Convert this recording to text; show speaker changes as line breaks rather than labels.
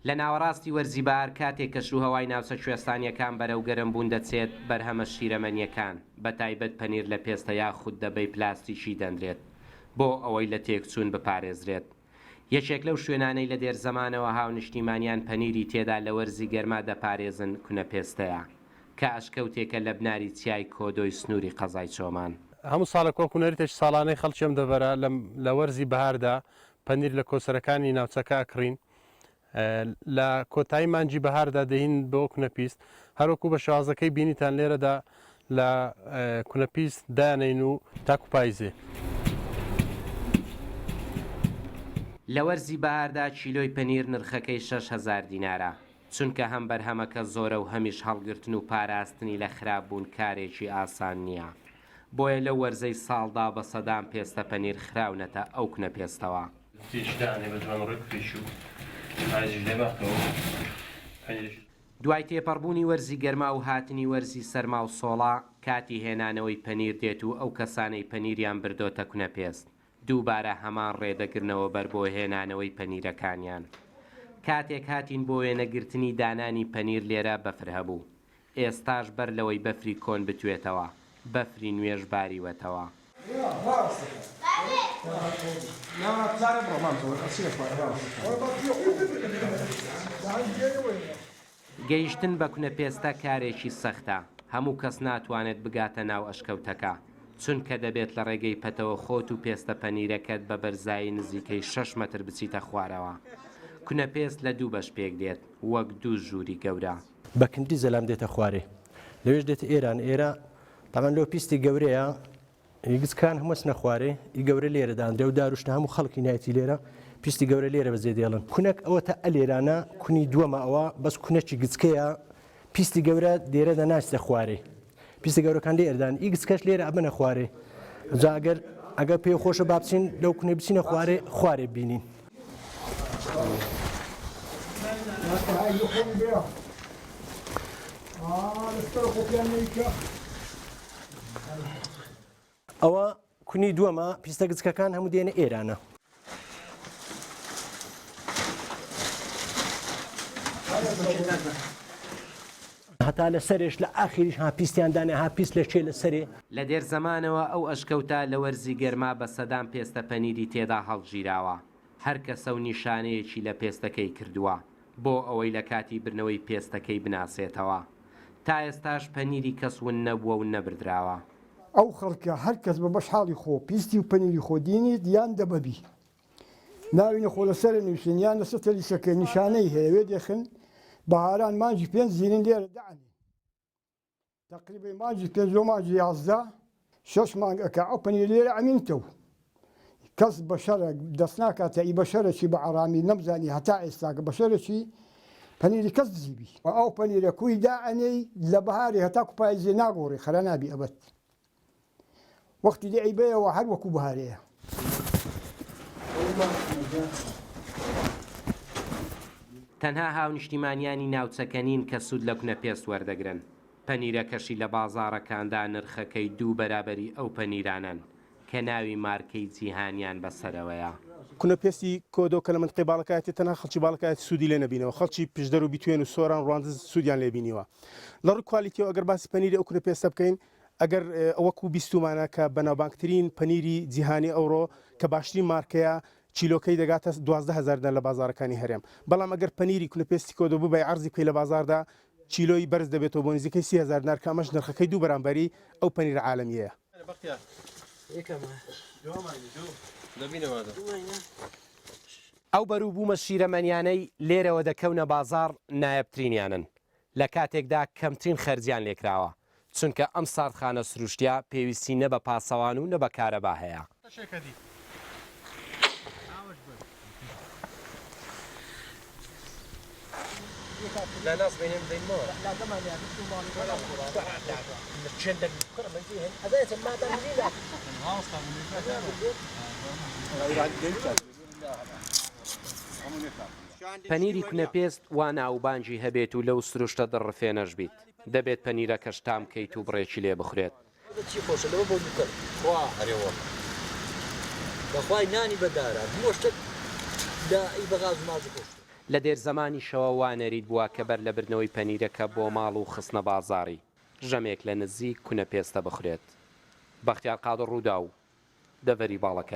لە ناوەڕاستی وەرزی بەهار کاتێک کەشوهەوای ناوچە کوێستانییەکان بەرەو گەرم بوون دەچێت، بەرهەمە شیرەمەنییەکان، بەتایبەت پەنیر لە پێستە یاخود دەبەی پلاستیکی دەنرێت بۆ ئەوەی لە تێکچوون بپارێزرێت. یەکێک لەو شوێنانەی لە دێرزەمانەوە هاونیشتیمانیان پەنیری تێدا لە وەرزی گەرما دەپارێزن کونە پێستەیە، کە ئەشکەوتێکە لە بناری چیای کۆدۆی سنووری قەزای چۆمان. هەموو ساڵێک وەکو
نەریتێکی ساڵانەی خەڵکی ئەم دەڤەرە لە وەرزی بەهاردا پەنیر لە کۆچەرەکانی ناوچەکە ئەکڕین. لە کۆتایی مانگی بەهاردا دەین بۆ کونەپیست هەروەکو بە شازەکەی بینیتان لێرەدا لە کونەپیست دانین و تاکو پایزێ.
لە وەرزی بەهاردا کیلۆی پەنیر نرخەکەی شەش هەزار دینارە، چونکە هەم بەرهەمەکە زۆرە و هەمیش هەڵگرتن و پاراستنی لە خراپبوون کارێکی ئاسان نییە، بۆیە لەو وەرزەی ساڵدا بە سەدان پێستە پەنیر خراونەتە ئەو کونەپێستەوە. دوای تێپەڕبوونی وەرزی گەرما و هاتنی وەرزی سەرما و سۆڵە، کاتی هێنانەوەی پەنیر دێت و ئەو کەسانەی پەنیریان بردۆتە کونەپێست، دووبارە هەمان ڕێ دەگرنەوە بەر بۆ هێنانەوەی پەنیرەکانیان. کاتێک هاتین بۆ وێنەگرتنی دانانی پەنیر لێرە بەفر هەبوو. ئێستاش بەر لەوەی بەفری کۆن بتوێتەوە، بەفری نوێش باریوەتەوە. گەیشتن بە کونە پێستە کارێکی سەختە، هەموو کەس ناتوانێت بگاتە ناو ئەشکەوتەکە، چونکە دەبێت لە ڕێگەی پەتەوە خۆت و پێستە پەنیرەکەت بە بەرزایی نزیکەی شەش مەتر بچیتە خوارەوە. کونە پێست لە دوو بەش پێکدێت، وەک دوو ژووری گەورە. بە کندی زەلام
دێتە خوارێ لەوێش دێتە ئێران ئێرە تەمان لۆ پیستی گەورەیە یگزکان هەمەسنە خوارێ ئی گەورە لێرە داندرێ و داروشتە هەموو خەڵکی نایەتی لێرە پیستی گەورە لێرە بەزێ دێڵن کونک ئەوە تا ئەلێرانە کونی دووەمە ئەوە بەس کونەی گچکەیە پیستی گەورە دێرە دە ناچتە خوارێ پیسە گەورەکان لێ ئەردان ئیکس کەش لێرە ئەبەنە خوارێ جا ئەگەر ئەگەر پێ خۆشە با بچین لەو کونێ بچینە خوارێ خوارێ بینین. ئەوە کونی دووەمە پیستە گچکەکان هەموو دێنە ئێرانە. هەتا لە سەرێش لە ئاخیریش ها پیستیان دانێ ها پیست لە چێ لە سەرێ. لە دێر زەمانەوە
ئەو ئەشکەوتە لە وەرزی گەرما بە سەدان پێستە پەنیری تێدا هەڵگیراوە. هەر کەسە و نیشانەیەکی لە پێستەکەی کردووە. بۆ ئەوەی لە کاتی بردنەوەی پێستەکەی بناسێتەوە. تا ئێستاش پەنیری کەس ون نەبووە و نەبردراوە. ئەو خەڵکە
هەر کەس بە بەش حاڵی خۆ پیستی و پەنیری خۆ دینیت یان دەبەبی ناوی نەخۆ لە سەرە نووسین یان لە سەتە لیسەکەی نیشانەی هەیە وێ دێخن بەهاران مانگی پێنج زینین لێرە دانێن. تەقریبەی مانگی پێنج لۆ مانگی یازدە شەش مانگ ئەکا ئەو پەنیر لێرە ئەمینتە و کەس بە شەرە دەست ناکاتە ئی بە شەرەکی بە ئارامی نەمزانی هەتا ئێستا کە بە شەرەکی پەنیری کەس دزیبی ئەو پەنیرە کوی دائەنێی لە بەهاری هەتاکو پاییزێ ناگۆڕی خرا نابی ئەبەد. وەختی لێ عیبەیەوە هەر وەکو بهارەیە.
تەنها هاونیشتیمانیانی ناوچەکە نین کە سوود لە کونە پێست وەردەگرن، پەنیرەکەشی لە بازاڕەکاندا نرخەکەی دوو بەرابەری ئەو پەنیرانەن کە ناوی مارکەی جیهانیان بەسەرەوەیە. کونە پێستی
کۆدۆ کە لە منتقەی باڵەکایەتی تەنها خەڵکی باڵەکایەتی سوودی لێ نەبینەوە، خەڵکی پشدەر و بیتوێن و سۆران و ڕواندز سوودیان لێ بینیوە. لە ڕووی کوالیتیەوە ئەگەر باسی پەنیری ئەو کورە پێستە بکەین ئەگەر ئەوەکو بیستومانە کە بەناوبانگترین پەنیری جیهانی ئەوڕۆ کە باشترین مارکەیە کیلۆکەی دەگاتە دوازدە هەزار دینار لە بازاڕەکانی هەرێم بەڵام ئەگەر پەنیری کونە پێستی کۆدۆ ببەی عەرزی بکەی لە بازاڕدا کیلۆی بەرز دەبێتەوە بۆ نزیکەی سی هەزار دینار کە ئەمەش نرخەکەی دوو بەرامبەری ئەو پەنیرە عالەمیەیە
ئەو بەروبوومە شیرەمەنیانەی لێرەوە دەکەونە بازاڕ نایابترینیانن لە کاتێکدا کەمترین خەرجیان لێکراوە، چونکە ئەم ساردخانە سروشتیە پێویستی نە بە پاسەوان و نە بە کارەبا هەیە. پەنیری کونەپێست وا ناووبانگی هەبێت و لەو سروشتە دڕ رفێنەش بیت دەبێت پەنیرەکەش تام کەیت و بڕێکی لێ بخورێت.
لە
دێر زەمانیشەوە وا نەریت بووە کە بەر لە بردنەوەی پەنیرەکە بۆ ماڵ و خستنە بازاڕی، ژەمێک لە نزیک کونەپێستە بخورێت. بەختیار قادر رووداو، دەڤەری باڵەکایە.